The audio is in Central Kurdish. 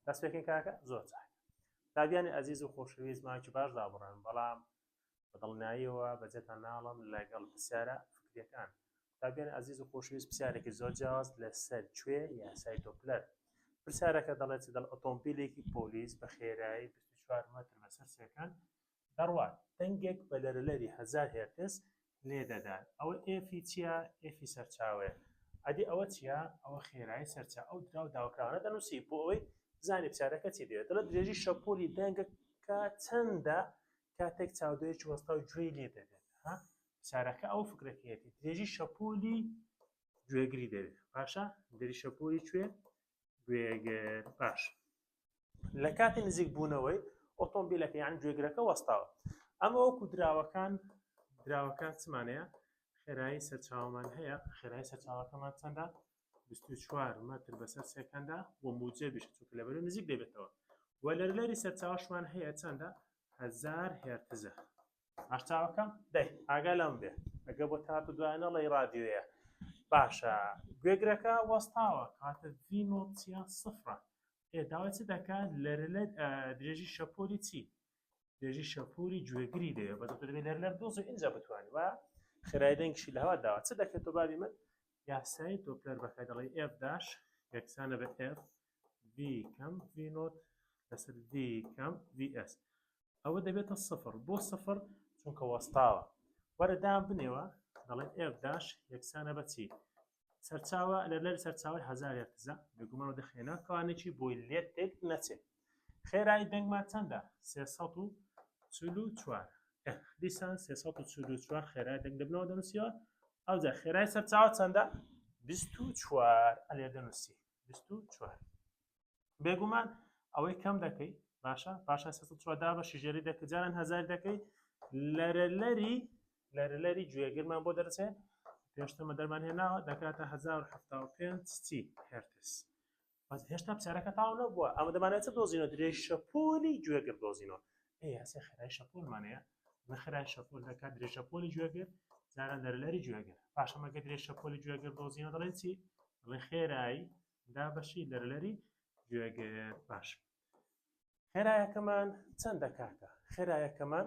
دەستپێکین کاکە زۆر چاک تابیانی ئەزیز و خۆشەویست ماکی باش دابڕن بەڵام بەدڵناییەوە بەجێتان ناڵم لەگەڵ پرسیارە فکرەکان تابیانی ئەزیز و خۆشویست پرسیارێکی زۆر جیاواز لەسەر کوێ یاسای تۆپلەر پرسیارەکە دەڵێت دڵ ئۆتۆمبیلێکی پۆلیس بە خێرایی 24 متر بەسەر سەکەن دەڕوات. دەنگێک بە لەرەلەری هەزار هێرتز لێ دەدات. ئەوە ئێفی چییە؟ ئێفی سەرچاوەیە. ئەدی ئەوە چییە؟ ئەوە خێرایی سەرچاوە. ئەو دراو داوەکراوانە دەنووسی بۆ ئەوەی بزانێ پرسیارەکە چی دەوێت. دەڵێت درێژی شەپۆلی دەنگەکە چەندە کاتێک چاودێرێکی وەستاو گوێی لێ دەبێت. ها؟ پرسیارەکە ئەو فکرەکەیەتی. درێژی شەپۆلی گوێگری دەوێت. باشە؟ درێژی شەپۆلی کوێ؟ گوێگر. باشە. لە کاتی نزیک بوونەوەی ئۆتۆمبیلەکە یان گوێگرەکە وەستاوە ئەمە وەکو دراوەکان دراوەکان چمانەیە خێرایی سەرچاومان هەیە خێرای سەرچاوەکەمان چەندە 24 متر بەسەر سێکەندا و موجێ بشت چونکە لە بەرە نزیک دەبێتەوە و لەرلەری سەرچاوشمان هەیە چەندە هزار هێرتزە باش چاوەکەم دەی ئاگا لەم بێ ئەگە بۆ تات و دوای نەڵی ڕادیوەیە باشە گوێگرەکە وەستاوە کاتە ڤینۆچیان سفرە ئێداوای چ دەکات لەرە لە درێژی شەپۆلی چی درێژی شەپوری گوێگری دەیە بە دەبێت لەر لەر دۆز و ئینجا بتوانانی وە خێرای دەنگشی لەوا داوە چ دەکرێت و بابی من یاسایی تۆپلەر بەکە دەڵی ئێف داش یەکسانە بە ئێف ڤی کەم ڤی نۆت لەسەر ڤی کەم ڤی ئێس ئەوە دەبێتە سفر بۆ سفر چونکە وەستاوە وەرە دام بنێوە دەڵێن ئێف داش یەکسانە بەچی سەرچاوە لە لەر سەرچاوی هزار هەرتزە بێگومان و دەخێنە کەوانێکی بۆی لێت تێک نەچێت خێرایی دەنگمان چەندە سێ سەد و چل و چوار دیسان سێ سەد و چل و چوار خێرای دەنگ دەبنەوە دەنووسیەوە ئەوجا خێرای سەرچاوە چەندە بیست و چوار ئەلێ دەنووسی 24 بێگومان ئەوەی کەم دەکەی باشە پاشا دا بە شژێری دەکە جاران هزار دەکەی لەرەلەری لەرەلەری گوێگرمان بۆ دەرچێ پێشتمە دەرمان هێناوە دەکاتە 1970 چی هرتس بەس هێشتا پسارەکە تاو نەبووە ئەمە دەمانێت دۆزینەوە درێژ شەپۆلی گوێگر دۆزینەوە ئەی هەسێ خێرای شەپۆلمان هەیە بە خێرای شەپۆل دەکات درێژ شەپۆلی گوێگر جاران دەرلەری گوێگر پاشەمەگە درێژ شەپۆلی گوێگر دۆزیەوە دەڵێ چی دەڵێ خێرایی دا بەشی دەرلەری گوێگر باش خێرایەکەمان چەند دەکاتە خێرایەکەمان